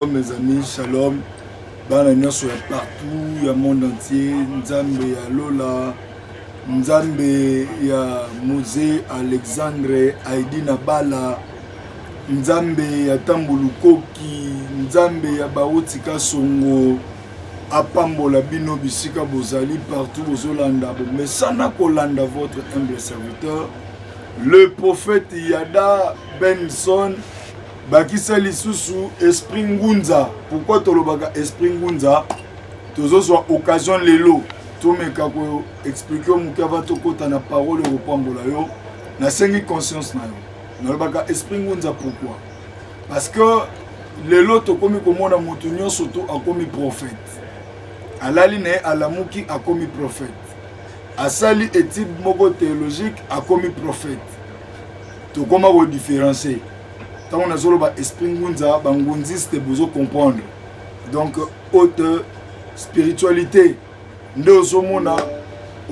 Shalom mes amis, shalom bana nyonso ya partout ya monde entier, nzambe ya lola, nzambe ya Mose Alexandre Aidi na bala, nzambe ya Tambo Lukoki, nzambe ya Bauti Kasongo apambola bino bisika bozali partout bozolanda bomesana kolanda votre humble serviteur le prophète Yada Benson bakisa lisusu esprit ngunza pourkui tolobaka esprit ngunza tozozwa occasion lelo tomeka koexplike moke ava tokɔta na parole ekopambola yo nasengi conscience na yo nalobaka esprit ngunza pourkui parce que lelo tokomi komona moto nyonso to akomi prophète alali na ye alamuki akomi prophète asali étude moko théologique akomi prophète tokoma kodifferencie tango nazoloba esprit ngunza bangunziste bozo comprendre donc haute spiritualité nde ozomona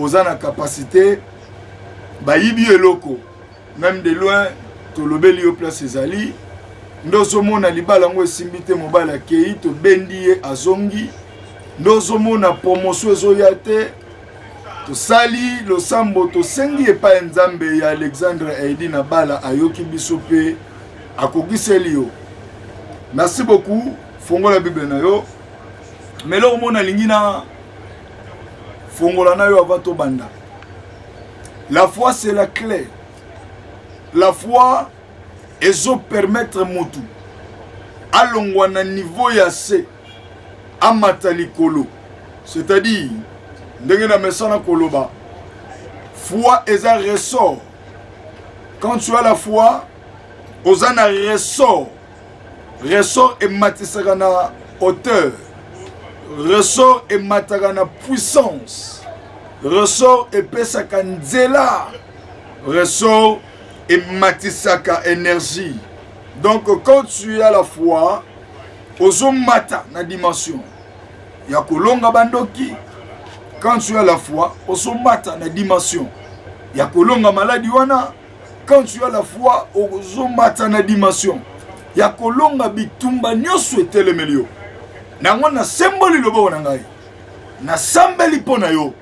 oza na capacité bayibi eloko même de loin tolobeli yo place ezali nde ozomona libala yango esimbi te mobali akei tobendi ye azongi nde ozomona promotion ezoya te tosali losambo tosengi epai ya nzambe ya alexandre aidi na bala ayoki biso mpe akokiseli yo merci beaucoup fongola bible na yo ma eloko moko nalingi na fongola na yo avant tobanda la foi c'est la clé la foi ezopermettre motu alongwa na niveau ya se amata likolo c'est-à-dire ndenge na mesana koloba foi eza ressort quand tu as la foi oza na ressort ressort ematisaka na hauteur ressort emataka na puissance ressort epesaka nzela ressort ematisaka énergie donc quand tu as la foi ozomata na dimension ya kolonga bandoki quand tu as la foi ozomata na dimension ya kolonga maladi wana quand tu as la foi ozomata na dimension ya kolonga bitumba nyonso etelemeli yo nango nasemboli loboko na ngai nasambeli mpo na yo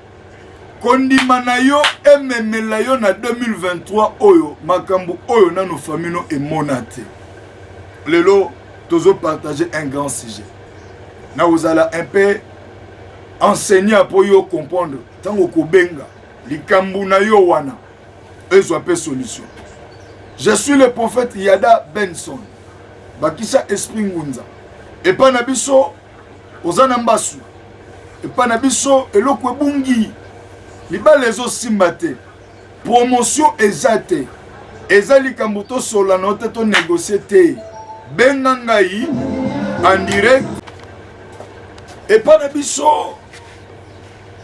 kondima na yo ememela yo na 2023 oyo makambo oyo nano famino emona te lelo tozopartage un grand sujet na kozala un peu enseignant mpo yo comprendre ntango kobenga likambo na yo wana ezwa mpe solution je suis le prophète yada benson bakisa esprit ngunza epai na biso oza na mbasu epai na biso eloko ebungi libala ezosimba te promotion eza te eza likambo tosolana te tonegocie te benga ngai en direct epai na biso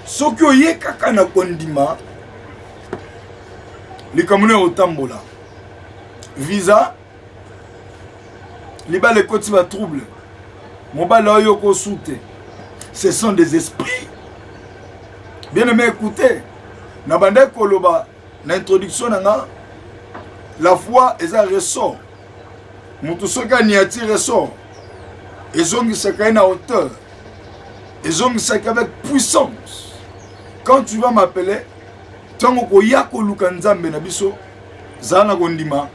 soki oye kaka na kondima likambo nini otambola visa libala ekoti ba trouble mobali oyo okosu te ce sont des esprits bien aimé écoute na bandaki koloba na introduction na nga la foi eza ressort moto soki aniati ressort ezongisaka ye na hauteur ezongisaka avec puissance quand tu vas m'appeler ntango koya koluka nzambe na biso zala na kondima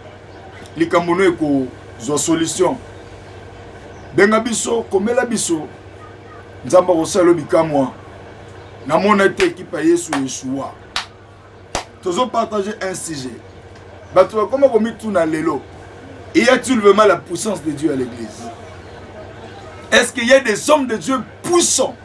likambo no ekozwa solution benga biso komela biso nzambe akosala yo bikamwa namona ete ekipe ya yesu eshuwa tozopartage un sujet bato bakoma komituna lelo y a-t-il vraiment la puissance de dieu à l'église est ce qu'il y a des hommes de dieu puissants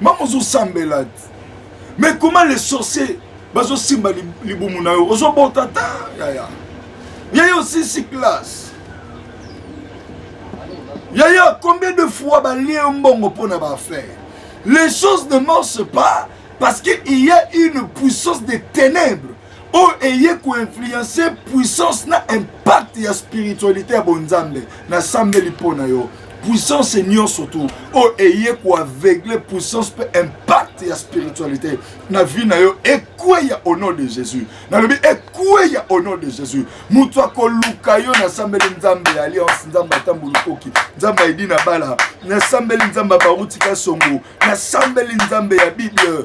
mama ozosambela mais comment les sorciers bazosimba libumu na yo ozobota ta yaya yaya osisi classe yaya combien de fois balie yo mbongo mpo na baaffaire les choses ne marchent pas parce qu'il y a une puissance des ténèbres oyo eye koinfluence puissance na impact ya spiritualité ya bonzambe nasambeli mpo na yo puissance nyonso tu oyo eye koaveugle puissance mpe impact ya spiritualité na vie na yo ekweya au nom de jésus nalobi ekweya au nom de jésus moto akoluka yo nasambeli nzambe ya alliance nzambe atambo lukoki nzambe aidi na bala nasambeli nzambe ya barutika songo nasambeli nzambe ya bible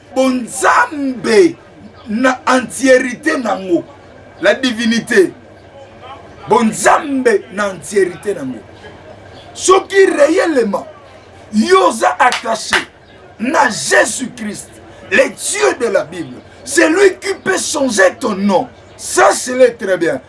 bonzambe na entierite nango la divinité bonzambe na entierite nango soki réellement yo oza attaché na jésus christ le dieu de la bible c'est lui qui peut changer ton nom ça c'est très bien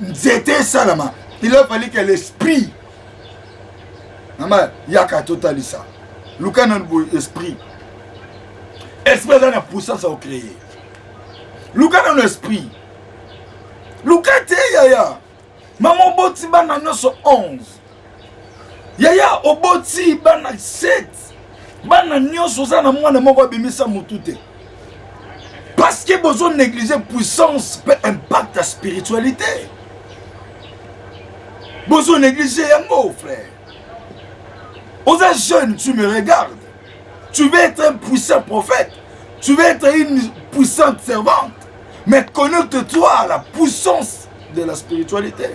nzete esalama il a fallu que l'esprit mama yaka totalisa luka nanu boye esprit esprit aza na puissance ya kocreye luka nanu esprit luka te yaya mama oboti bana nyonso 11 yaya oboti bana 7 bana nyonso oza na mwana moko abimisa motu te parce que bozo négliger puissance mpe impact ya spiritualité bozo négliger yango frère oza jeune tu me regardes tu veux être un puissant prophète tu veux être une puissante servante mais connecte-toi à la puissance de la spiritualité.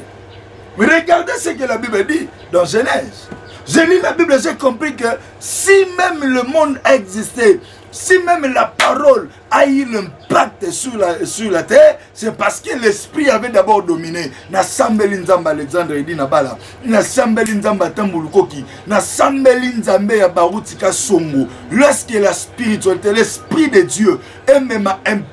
Regardez ce que la Bible dit dans Genèse. J'ai lu la Bible, j'ai compris que si même le monde a existé, si même la parole a eu l'impact sur la, sur la terre, c'est parce que l'esprit avait d'abord dominé. Na sambeli nzamba Alexandre Edi na bala, na sambeli nzamba Tambulukoki, na sambeli nzamba ya Barutika Songo. Lorsque la spiritualité, l'esprit de Dieu est même un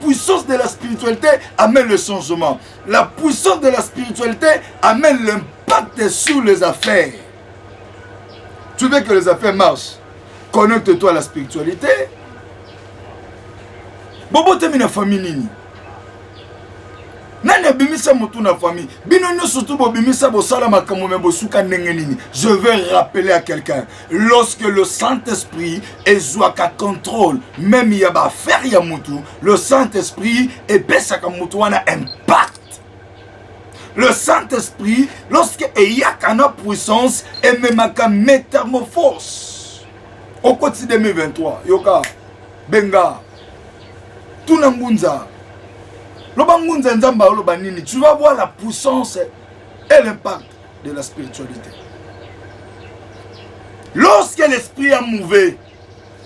puissance de la spiritualité amène le changement. La puissance de la spiritualité amène l'impact sur les affaires. Tu veux que les affaires marchent Connecte-toi à la spiritualité. Bobo t'es la famille nini nani abimisa motu na famille bino nyonso tu bobimisa bosala makambo me bosuka ndenge nini je vais rappeler à quelqu'un lorsque le Saint-Esprit ezwaka contrôle même ya ba affaire ya mutu le Saint-Esprit epesaka mutu wana impact le Saint-Esprit lorsque eyaka na puissance ememaka métamorphose okoti 2023 yoka benga tuna ngunza loba ngunza nzambe aloba nini tu vas voir la puissance et l'impact de la spiritualité. Lorsque l'esprit a mouvé,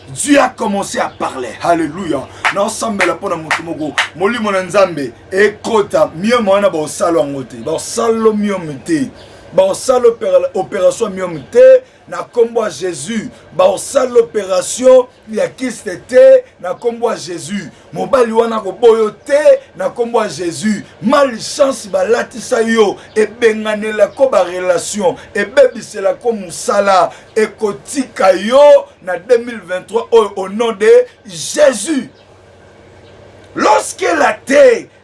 Dieu a commencé à parler. Alléluia. Na ensemble la pona mutu moko. Molimo na Nzambe ekota mieux mwana ba osalo angote. Ba osalo mieux mute. Ba osalo opération mieux mute. na nkombo ya jesus baosala operation ya kiste te na nkombo ya jesus mobali wana koboyo te na nkombo ya jesus malchance balatisa yo ebenganelako barelation ebebiselako mosala ekotika yo na 2023 oyo au nom de jesus lorsque la te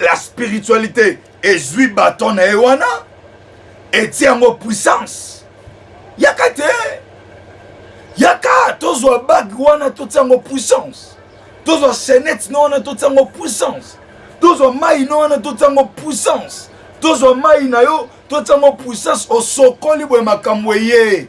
la spiritualité ezwi baton na ye wana etie yango puissance yaka te yaka tozwa bage wana totia yango puissance tozwa chainette no wana totia yango puissance tozwa mai no wana totia yango puissance tozwa mai na yo totia yango puissance osokoli boye makambo eye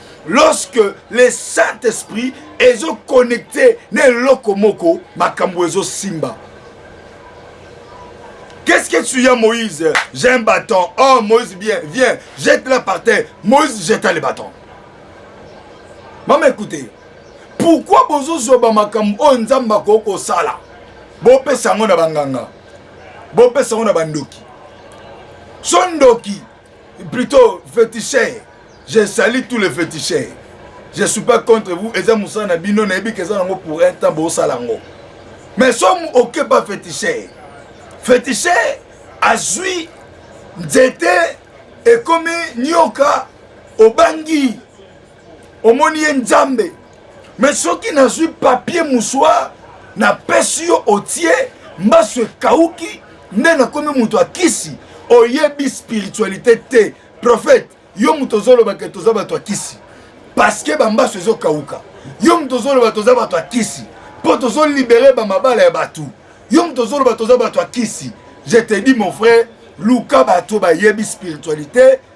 lorsque le saint esprit ezoconnecte na eloko moko makambo ezosimba Qu'est-ce que tu as, Moïse J'ai un bâton. Oh, Moïse, bien, viens, jette-la par terre. Moïse jeta le bâton. Maman, écoutez. Pourquoi bozozwa bamakambo oyo nzambe akoki kosala bopesa yango na banganga bopesa yango na bandoki so ndoki plutôt féticheur je sali tous les féticheurs je suis pas contre vous eza mosala na bino nayebi keza nango pour un temps bosala yango mais soki oke pas féticheur féticheur azwi nzete ekomi nyoka obangi omoni ye nzambe me soki nazwi papier moussoir napesi yo otie mbasu ekauki nde nakomi moto akisi oyebi spiritualité te prophète yo moto ozolobake toza bato akisi parceke bambasu ezokauka yo moto ozoloba toza bato akisi mpo tozolibere bamabala ya bato yo moto ozoloba toza bato akisi je te dis mon frère luka bato bayebi spiritualité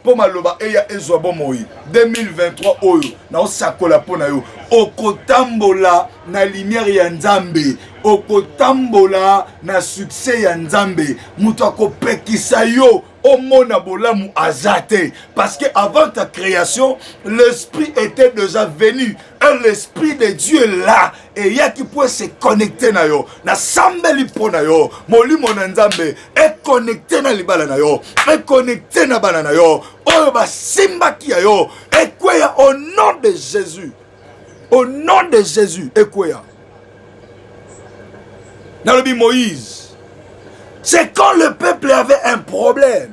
mpo maloba eya ezwa bomoi 2023 oyo naosakola mpo na yo okotambola na limiere ya nzambe okotambola na sukse ya nzambe moto akopekisa yo omona bolamu aza te parce que avant ta création l'esprit était déjà venu et l'esprit de dieu là eyaki mpo ese connecte na yo nasambeli mpo na yo molimo na nzambe econnecte na libala na yo econnecte na bana na yo oyo basimbaki ya yo ekweya au nom de jésus au nom de jésus ekweya nalobi moïse c'est quand le peuple avait un problème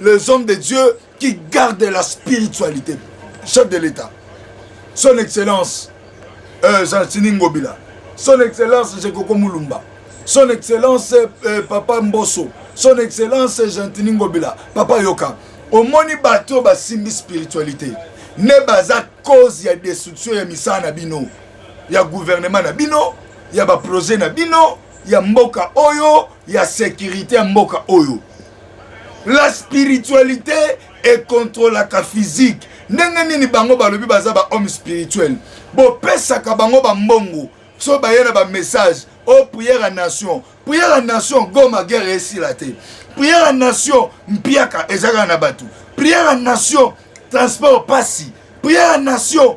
les hommes de Dieu qui gardent la spiritualité. Chef de l'État, son Excellence euh, Jean-Tini Ngobila, son Excellence Jekoko Mulumba, son Excellence euh, Papa Mbosso, son Excellence Jean-Tini Ngobila, Papa Yoka, omoni bato basimbi spiritualité ne baza cause ya destruction ya misala na bino ya gouvernement na bino ya baprojet na bino ya mboka oyo ya sécurité ya mboka oyo la spiritualité ekontrolaka physique ndenge nini bango balobi baza bahomme spirituel bopesaka bango bambongo so baye na bamessage o oh, prière ya nation prière ya nation goma guerre esila te prière ya nation mpiaka ezalaka na bato prière ya nation transport pasi prière ya nation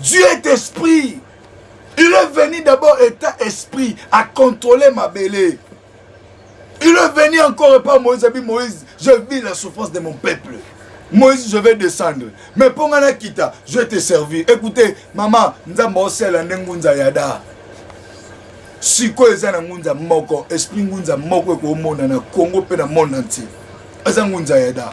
Dieu est esprit. Il est venu d'abord état esprit à contrôler ma belle. Il est venu encore par Moïse, a dit Moïse, je vis la souffrance de mon peuple. Moïse, je vais descendre. Mais pour moi, kita, je vais te servir. Écoutez, maman, nzamba osela nengunza yada. sikoyo eza na ngunza moko esprit ngunza moko ekomona na congo mpe na monde entier eza ngunza ya da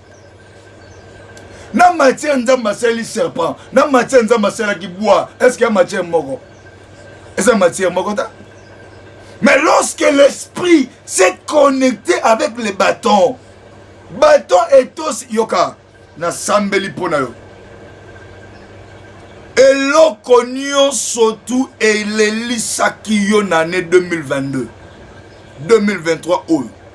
na matière nzambe asaleli serpent na matière nzambe asalaki bois est ce que ya matière moko eza matière moko ta mais lorsque l'esprit s'est connecté avec le bâton bâton etos yoka nasambeli mpo na yo eloko nyonso tu elelisaki yo na année 2022 2023 oyo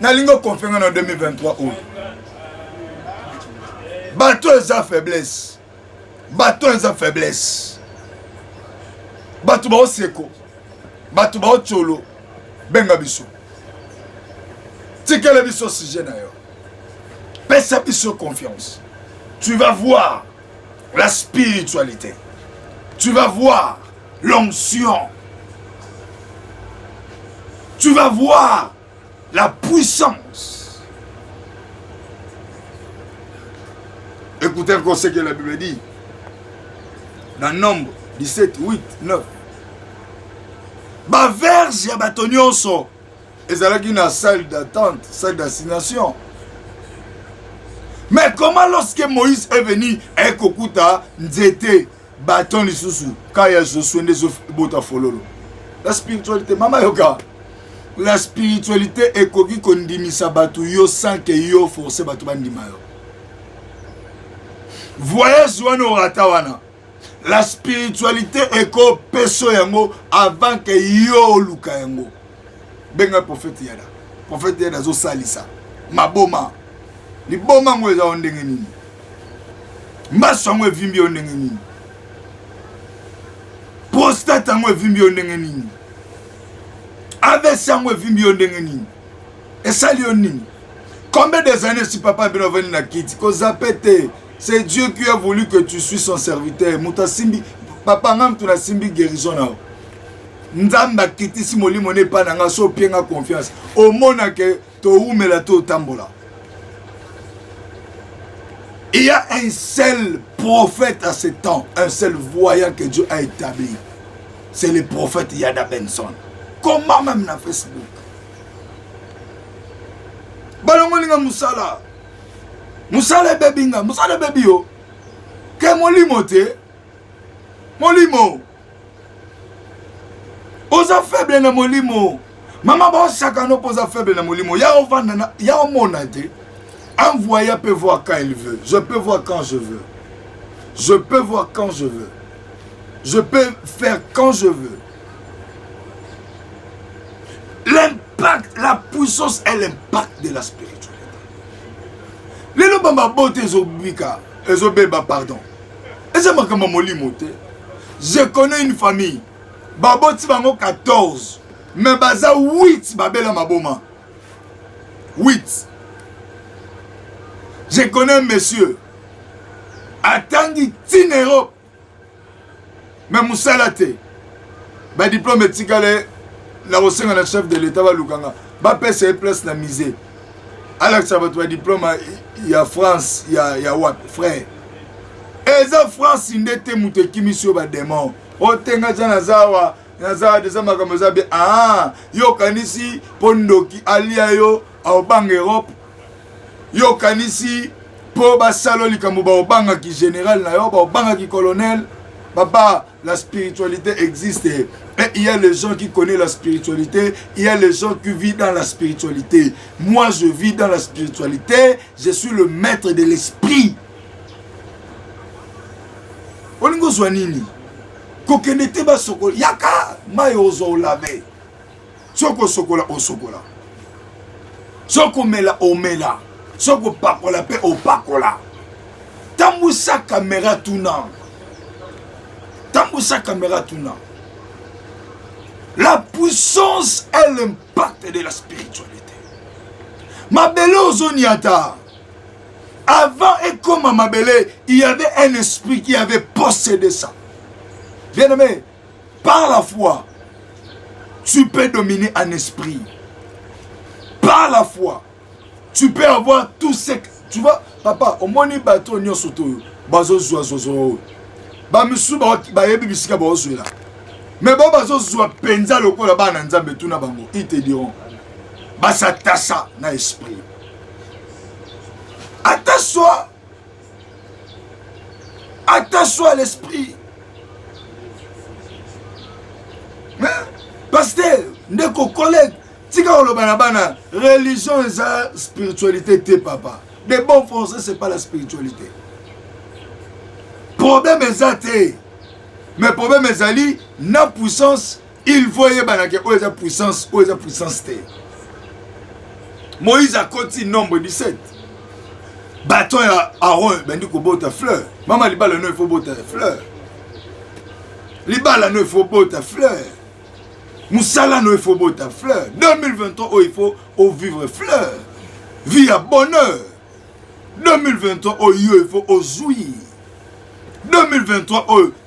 nalingi okonfe nga na 2023 oyo bato eza faiblesse bato eza faiblesse bato baoseko bato baocolo benga biso tikela biso sujet na yo pesa biso confiance tu vas voir la spiritualité tu vas voir l'onction. Tu vas voir la puissance. Écoutez un conseil que la Bible dit. Dans Nombre 17, 8, 9. baverse ya bato nyonso ezalaki na salle d'attente salle d'assignation mais comment lorsque moïse est venu aye kokuta nzete baton lisusu ka ya josue nde ezobota fololo la spiritualité mama yoka la spiritualité ekoki kondimisa bato yo sans ke yo force bato bandima yo voyage wana orata wana la spiritualité ekopeso yango avant ke yo oluka yango benga prophète yada prophète yada azosalisa maboma liboma yango eza yo ndenge nini mbaso yango evimbi yo ndenge nini prostate yango evimbi yo ndenge nini avc yango evimbi yo ndenge nini esali yo nini combien des années si papa bino avandi na kiti kozape te c'est dieu qui a voulu que tu suis son serviteur moto asimbi papa ngai moto nasimbi guérison na yo nzambe akitisi molimo na epai na ngai so opie ngai confiance omona ke towumela to otambola Il y a un seul prophète à ce temps, un seul voyant que Dieu a établi. C'est le prophète Yada Benson. Comment même na Facebook balongoli nga mosala mosala ebebi nga mosala ebebi yo ke molimo te molimo oza faible na molimo mama baosakana mpo oza faible na molimo ya ovanda ya omona te envoya peut voir quand il veut je peux voir quand je veux je peux voir quand je veux je peux faire quand je veux l'impact la puissance et l'impact de la spiritualité lelo bambabote ezobika ezobeba pardon eza makambo molimo te je connais une famille baboti bango 14 mais baza 8 babela maboma 8 je connais monsieur atangi tinero mais mosala te badiplome etikale na kosenga na chef de l'etat balukanga bapesa ye place na musée alakisa bato badiplome ya france ya, ya wapi frère eza france nde te moto ekimisi yo bademon otenga aza naza awa naza deza makambo eza be aa ah, yo okanisi mpo ndoki alia yo aobanga europe yo okanisi mpo basalo likambo baobangaki général na yo baobangaki colonel papa la spiritualité existe et il y a les gens qui connaissent la spiritualité il y a les gens qui vivent dans la spiritualité moi je vis dans la spiritualité je suis le maître de l'esprit olingi ozwa nini kokende te basokoli yaka mai ozwa olave soki osokola osokola soki komela omela soki kopakola mpe opakola tambusa kamera tuna tambusa kamera tuna la puissance est l'impact de la spiritualité mabele ozoniata avant ekoma mabele il y avait un esprit qui avait possédé ça bien aimé Par la foi, tu peux dominer un esprit. Par la foi, tu peux avoir tout ce que tu vois. Papa, omoni bato nyonso toyo bazozwa zozo oyo bamisusu bayebi bisika baozwela me bao bazozwa mpenza lokola bana nzambe tuna bango ite diront basatasa na esprit ata soi attention à l'esprit pasteur ndeko collègue tika koloba na bana religion eza spiritualité te papa de bon français c'est pas la spiritualité problème eza te mais problème ezali na puissance il faut eyebana ke oyo eza puissance oyo eza puissance te moïse akoti nombre 17 baton ya aron ebandi kobota fleur mama libala no efo bota fleur libala no efo bota fleur mosala no efo bota fleur 2023 oyo ifo ovivre fleur vie ya bonheur 2023 oyo ifo ozwi 2023 oyo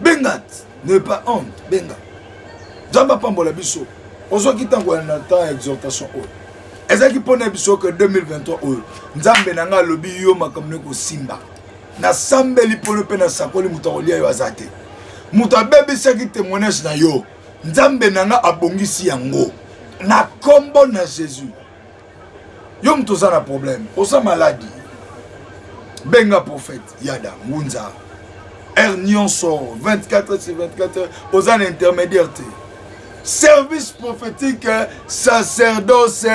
benga ne pas honte benga nzambe apambola biso ozwaki ntango ya na temps ya exhortation oyo ezalaki mpo na biso ke 2023 oyo nzambe na ngai alobi yo makambo ne kosimba nasambeli mpolo mpe nasakoli moto akolia yo aza te moto abebisaki témoignage na yo nzambe na ngai abongisi yango na nkombo na jésus yo moto oza na problème oza maladi benga prophète yada ngunza heure nyonso 24 sur 24 heures oza na intermédiaire te service prophétique sacerdoce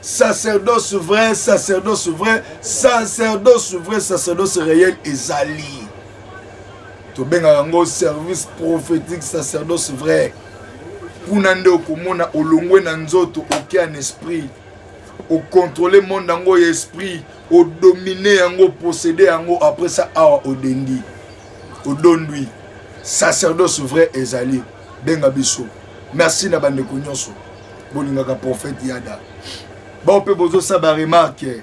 sacerdoce vrai sacerdoce vrai sacerdoce vrai sacerdoce réel ezali tobengaka yango service prophétique sacerdoce vrai kuna nde okomona olongwe na nzoto oke en esprit okontrole monde yango ya esprit odomine yango posede yango après ça awa odendi odondwi sacerdoce vrai ezali benga biso merci na bandeko nyonso bolingaka prophète yada bao mpe bozosala baremarke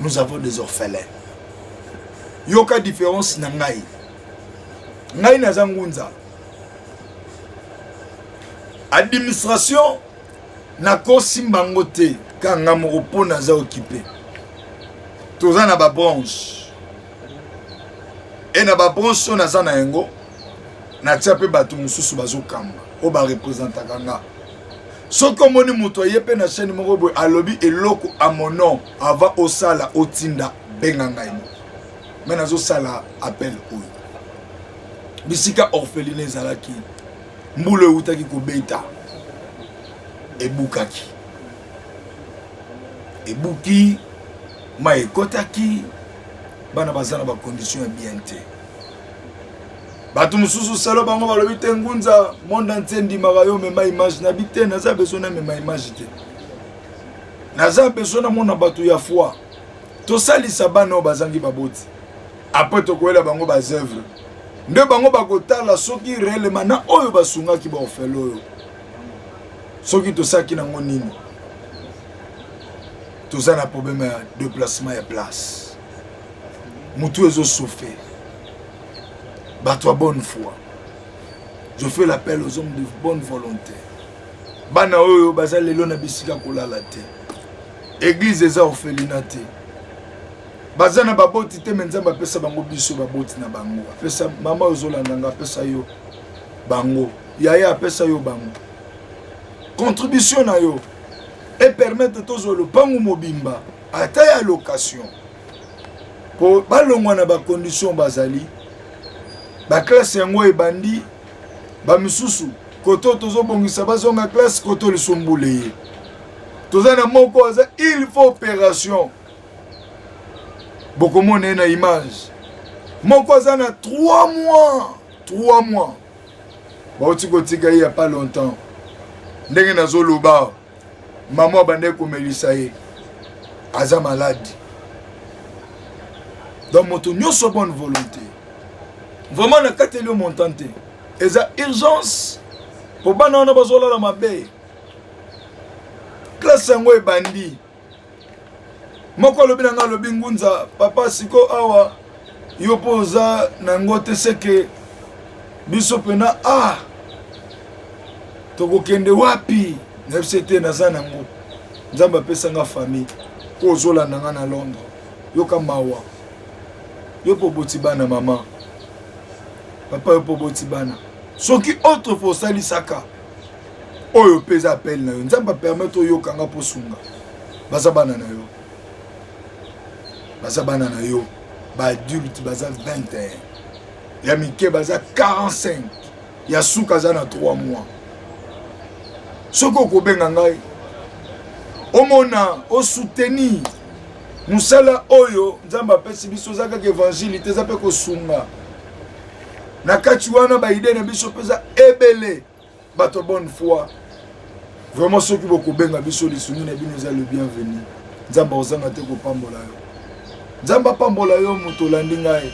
nous avons des orphelins yoka différence na ngai ngai naza ngunza administration nakosimba yango te kanga moko mpo naza okipe toza na babranche e na babranche oyo naza na yango natia mpe bato mosusu bazokamba oyo barepresentaka nga soki omoni moto aye mpe na chaîne moko boye alobi eloko a mon nom avant osala otinda benga ngai moko me nazosala appel oyo bisika orpheline ezalaki mbula ewutaki kobeta ebukaki ebuki mai ekotaki bana baza na bakondition ya bien te bato mosusu selo bango balobi te ngunza monde entier ndimaka yo mema image na bi te naza besoin na mema image te naza besoin namona bato ya foi tosalisa bana oyo bazangi baboti apres tokoyela bango bazeuvre nde bango bakotala soki reelema na oyo basungaki baofele oyo soki tosalaki nango nini toza na probleme ya deplacement ya place mutu ezo souffrir bato ya bonne foi je fais l'appel aux hommes de bonne volonté bana oyo baza lelo na bisika kolala te eglise eza orphelina te baza na baboti te me nzambe apesa bango biso baboti na bango apesa mama ozolanda nga apesa yo bango yaya apesa yo bango contribution na yo epermettre tozwa lopango mobimba ata ya location mpo balongwa na bakondition bazali baklasse yango ebandi bamisusu koto tozobongisa bazonga klasse koto lisumbule ye toza na moko aza il faut opération bokomona ye na image moko aza na 3 mois 3 mois bauti kotika ye ya pas longtemps ndenge nazoloba mama abandaki komelisa ye aza maladi donc moto nyonso bonne volonté vraiment nakateli yo montant te eza urgence mpo bana wana bazolala mabe klase yango ebandi moko alobi na ngai alobi ngunza papa siko awa yo mpo oza na yango te seke biso mpena ah tokokende wapi nayebi se te naza na yango nzambe apesa nga famille mpo ozolanda nga na londres yoka mawa yo mpo oboti bana mama papa yo mpo oboti bana soki autre fois osalisaka oyo mpe eza appel na yo nzambe apermettre oyoka nga mpo sunga baza bana na yo baza bana na yo baadulte baza 21 ya mike baza 45 ya suka aza na 3 mois soki okobenga ngai omona osoutenir mosala oyo nzambe apesi biso eza kaka evangile te eza mpe kosunga na kati wana baide na biso mpenza ebele bato bonne foi vraiment soki bokobenga biso lisungi na bino eza le bienvenu nzambe akozanga te kopambola yo nzambe apambola yo moto olandi ngai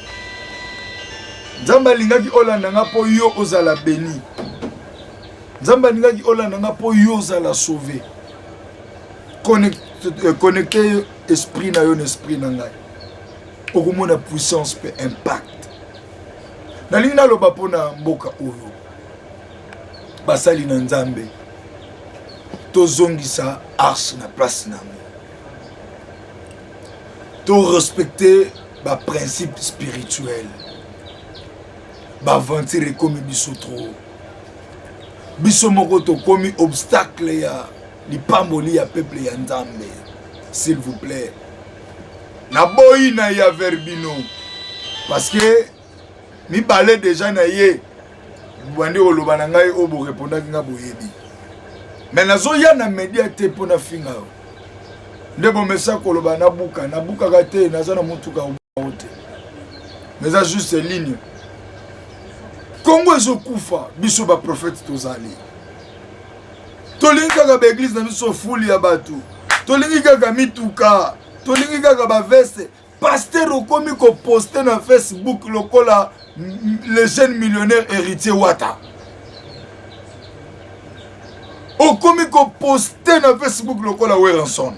nzambe alingaki olanda nga mpo yo ozala beni nzambe alingaki olanda nga mpo yo ozala sauve connecte euh, esprit na yo na esprit na ngai okomona puissance mpe impact nalingi naloba mpo na mboka oyo basali na nzambe tozongisa arche na place na yango torespecte baprincipe spirituel baaventure ekomi biso trop biso moko tokomi obstacle ya lipamboli ya peuple ya nzambe s'il vous plaît naboyi na ya verbino parce que mibale deja na ye bandi koloba na ngai oyo borepondaki ngai boyebi me nazoya na media te mpo nafinga yo nde bomesa koloba nabuka nabukaka te naza na motuka obukao te eza juste ligne kongo ezokufa biso baprofete tozali tolingi kaka baeglize na biso fuli ya bato tolingi kaka mituka tolingi kaka baveste paster okomi koposte na facebook lokola le jeune millionnaire héritier wata okomi koposte na facebook lokola werenson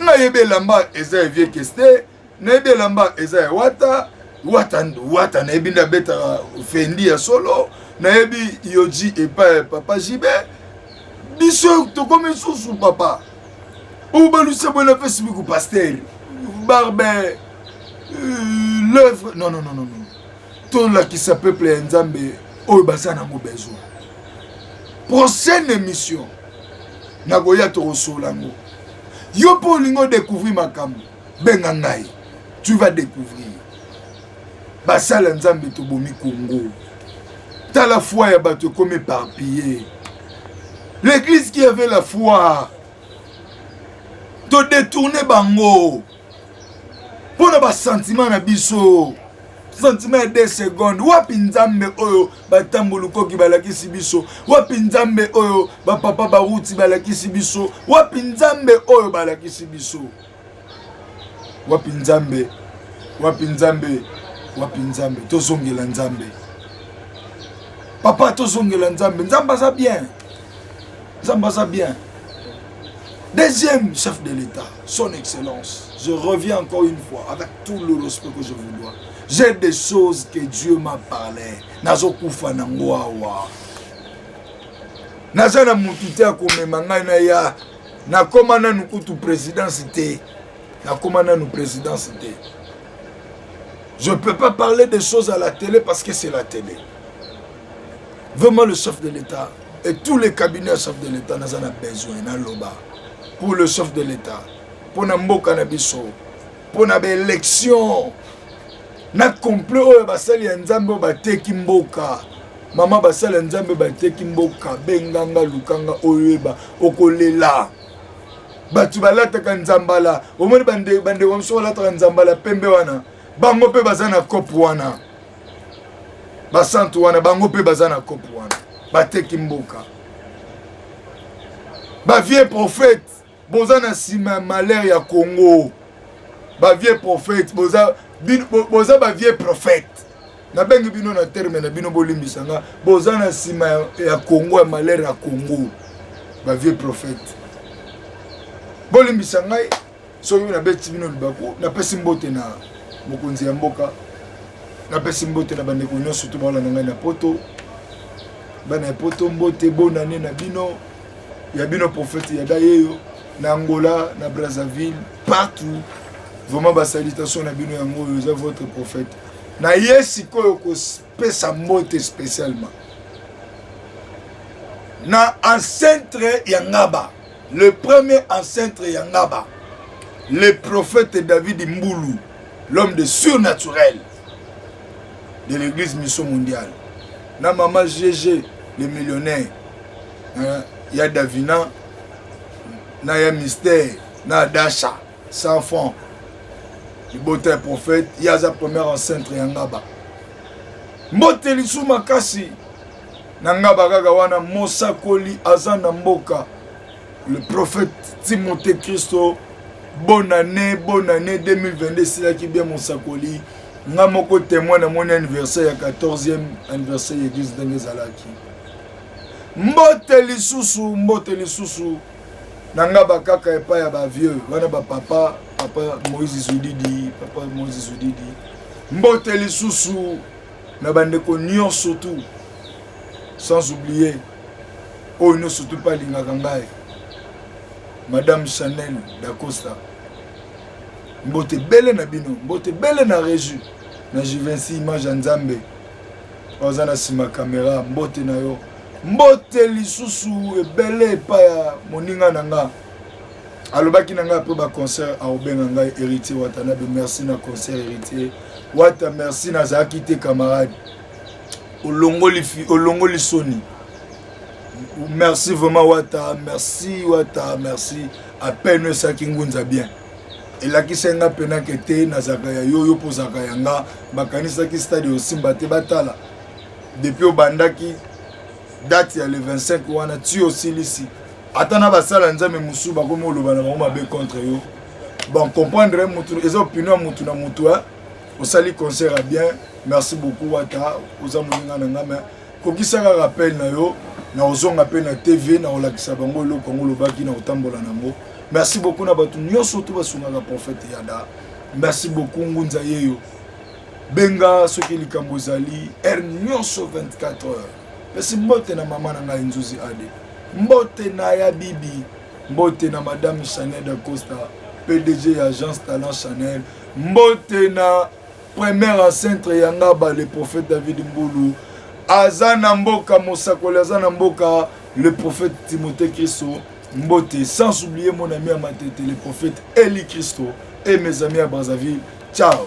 nayebi elamba eza ya vie keste nayebi elamba eza ya wata wata wata nayebi nde abetaka fendi ya solo nayebi yoji epai ya papa jibe biso tokomi susu papa oyo balusa bwela mpe sibiku paster barbe euh, l'œuvre non non non non tolakisa peuple ya nzambe oyo baza nango besoin prochaine émission nakoya tokosoola yango yo mpo olingi odecouvrir makambo benga ngai tu vas découvrir basala nzambe tobomi kongo tala foi ya bato ekomi éparpille l'église qui avait la foi todetourne bango mpo na basentima na biso santima ya 2 seconde wapi nzambe oyo batambolukoki balakisi biso wapi nzambe oyo bapapa baruti balakisi biso wapi nzambe oyo balakisi biso wapi nzambe wapi nzambe wapi nzambe tozongela nzambe papa tozongela nzambe nzambe aza bien nzambe aza bien deuxième chef de l'état son excellence je reviens encore une fois avec tout le respect que je vous dois j'ai des choses que dieu m'a parlé nazokufa nango awa naza na motu te akomema ngai na ya nakoma nanu kutu présidence te nakoma nanu présidence te je peux pas parler des choses à la télé parce que c'est la télé vraiment le chef de l'état et tous les cabinets ya chef de l'état naza na besoin naloba pour le chef de l'état mpo na mboka na biso mpo na baélection na complet oyo basali ya nzambe oyo bateki mboka mama basala nzambe bateki mboka benganga lukanga oyeba okolela bato balataka nzambala omoni bandeko bande mosusu balataka nzambala pembe wana bango mpe baza na cope wana basantu wana bango mpe baza na cope wana bateki mboka bavie prophète boza na nsima ya malheur ya congo bavie prophète boza, bo, boza bavie prophète nabengi bino na terme na bino bolimbisa nga boza na nsima ya, ya congo ya malheur ya congo bavie prophète bolimbisa ngai soki nabeti bino libaku napesi mbote na mokonzi ya mboka napesi mbote na bandeko nyonso to baolanda ngai na poto bana ya poto mbote bonane na bino ya bino prophète ya dayeyo na angola na brazzaville partout vraiment basalitation na bino yango oyo eza votre prophète na ye sikoyo kopesa mbote spécialement na ancentre ya ngaba le premier ancentre ya ngaba le prophète david mbulu l'homme de surnaturel de l'église mission mondiale na mama gg le millionnaire hein, ya davina na ya mystère na dasha sans fond libota ya prophète ye aza première encentre ya ngaba mbote lisu makasi na ngaba kaka wana mosakoli aza na mboka le prophète timothée christo bonne année bonne année 2022 esilaki bien mosakoli nga moko témoin namoni anniversaire ya 14e anniversaire ya église ndenge ezalaki Mbote lisusu, mbote lisusu na nga bakaka epai ya bavieux wana bapapa papa Moïse Zudidi, papa Moïse Zudidi. Mbote lisusu na bandeko nyonso tout sans oublier oyo nyonso tout mpe alingaka ngai madame Chanel Dacosta. Mbote bele na bino, mbote bele na Régie, na Juvenci Image ya Nzambe. oza na nsima kamera mbote na yo mbote lisusu ebele epai ya moninga na nga alobaki na ngai apres baconcert akobenga ngai héritier watanabe merci na concert héritier wata merci nazalaki te camarade olongoli, olongoli soni merci vraiment wata merci wata merci apene esaki ngunza bien elakisaki nga mpena ke te nazalaka ya yo yo mpo ozalaka ya nga bakanisaki stade osimba te batala depuis obandaki date ya le 25 wana ti osilisi ata na basala nzambe mosusu bakomi oloba na bango mabe contre yo bon comprendre mutu eza opinion ya mutu na mutu osali concert ya bien merci beaucoup wata oza moninga na nga mais Kokisa kaka appel na yo na kozonga mpe na TV na kolakisa bango eloko yango olobaki na kotambola na yango. Merci beaucoup na bato nyonso to basungaka prophète Yada. Merci beaucoup ngunza yeyo. Benga soki likambo ezali heure nyonso 24 heures. Pesi mbote na mama na ngai Nzuzi Ade. Mbote na ya bibi. Mbote na madame Chanel da Costa, PDG ya Agence Talent Chanel. Mbote na Premier ancêtre ya ngaba le prophète David Mbulu aza na mboka mosakoli aza na mboka le prophète Timothée Christo mbote sans oublier mon ami ya matete le prophète Eli Christo et mes amis à Brazzaville ciao